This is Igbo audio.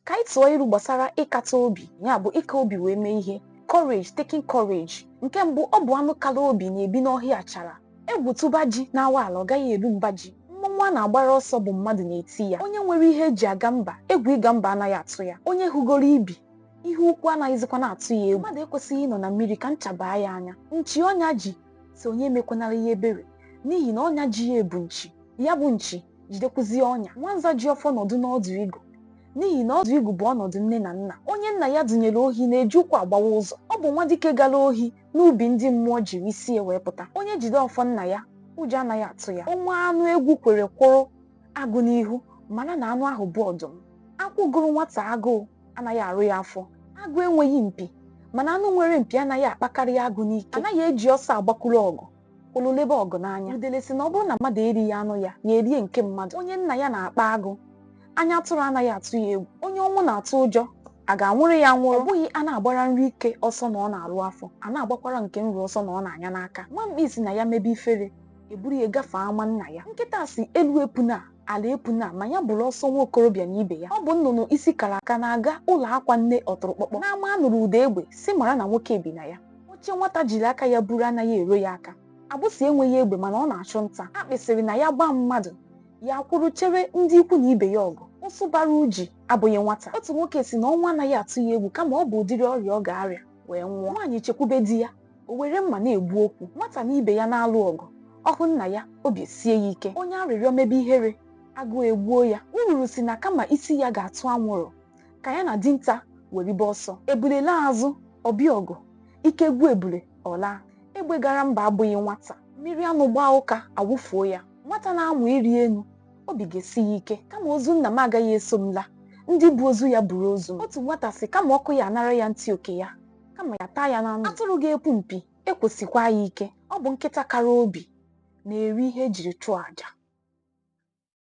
ka anyị tụọ ilu gbasara ịkata obi ya bụ ịka obi wee mee ihe or taking courage nke mbụ ọ bụ anụ kara obi na-ebi n'ọhịa achara egwu tụba ji na-awa ala ọ gaghị eru mba ji mmọnwụ a na-agbara ọsọ bụ mmadụ na-eti ya onye nwere ihe e ji aga mba egwu ịga mba anaghị atụ ya onye hụgoro ibi ihe ukwu anaghịzikwa na-atụ ya egwu mmadụ ekwesịghị ịnọ na mmiri ka ncha baa ya anya nchi ọnya ji sị onye emekwanara ya ebere n'ihi na ọnya ji ya bụ nchi ya bụ nchi jidekwuzie ọnya nwanza ji ọfọ nọdụ n'ọdụ igu n'ihi na ọdụ igu bụ ọnọdụ nne na nna onye nna ya dụnyere ohi na-eji ụkwụ agbawa ụzọ ọ bụ nwa dike gara ohi n'ubi ndị mmụọ jiri isi wee pụta onye jide ọfọ nna ya ụjọ anaghị atụ ya ọ nwee anụ egwu kwere kwụrụ agụ n'ihu mara na anụ ahụ bụ ọdụm akwụ gụrụ nwata agụụ anaghị arụ ya afọ agụ enweghị mpi mana anụ nwere mpi anaghị akpakarị agụ n'ike anaghị eji ọsọ agbakwuru ọgụ o ruo lebe ọgụ n'anya udele sị na ọ bụrụ na mmadụ erighị anụ ya ya erie nke mmadụ onye nna ya na-akpa agụ anya atụrụ anaghị atụ ya egwu onye ọnwụ na-atụ ụjọ a ga-anwụrụ ya anwụrụ ọ bụghị a na-agbara nri ike ọsọ na ọ na-arụ afọ a na-agbakwara nke nro ọsọ na ọ na-anya n'aka nwa mkpi sị na ya mebe ifere e buru ya gafee ama nna ya nkịta sị elu epuna ala epuna ma ya bụrụ ọsọ nwa okorobịa na ibe ya ọ bụ nnụnụ isi kara aka na-aga ụlọ akwa nne ọtụrụkpọkpọ n'ama a nụrụ ụda egbe sị mara na nwoke bi na ya Oche nwata jiri aka ya buru anaghị ero ya aka. Agbụsị enweghị egbe mana ọ na-achụ nta. Akpị sịrị na ya gbaa mmadụ, ya akwụrụ chere ndị ikwu na ibe ya ọgụ. Ụsụ bara uji abụghị nwata. Otu nwoke sị na ọnwụ anaghị atụ ya egwu kama ọ bụ ụdịrị ọrịa ọ ga-arịa wee nwụọ. Nwaanyị chekwube di ya, o were mma na-egbu okwu. Nwata na ibe ya na-alụ ọgụ, ọ hụ nna ya, obi esie ya ike. Onye arịrịọ mebe ihere, agụụ egbuo ya. Ururu sị na kama isi ya ga-atụ anwụrụ, ka ya na dinta weribe ọsọ ebule laa azụ ọ bịa ọgụ ike gwụ ebule ọ laa egbe gara mba abụghị nwata mmiri anụ gbaa ụka a wụfuo ya nwata na-amụ ịrị elu obi ga-esi ya ike kama ozu nna m agaghị eso m laa ndị bu ozu ya buru ozu m. otu nwata sị kama ọkụ ya anara ya ntị oke ya kama ya taa ya na ndụ atụrụ ga-epu mpi ekwo sikwaa ya ike ọ bụ nkịta kara obi na-eri ihe e jiri chụọ aja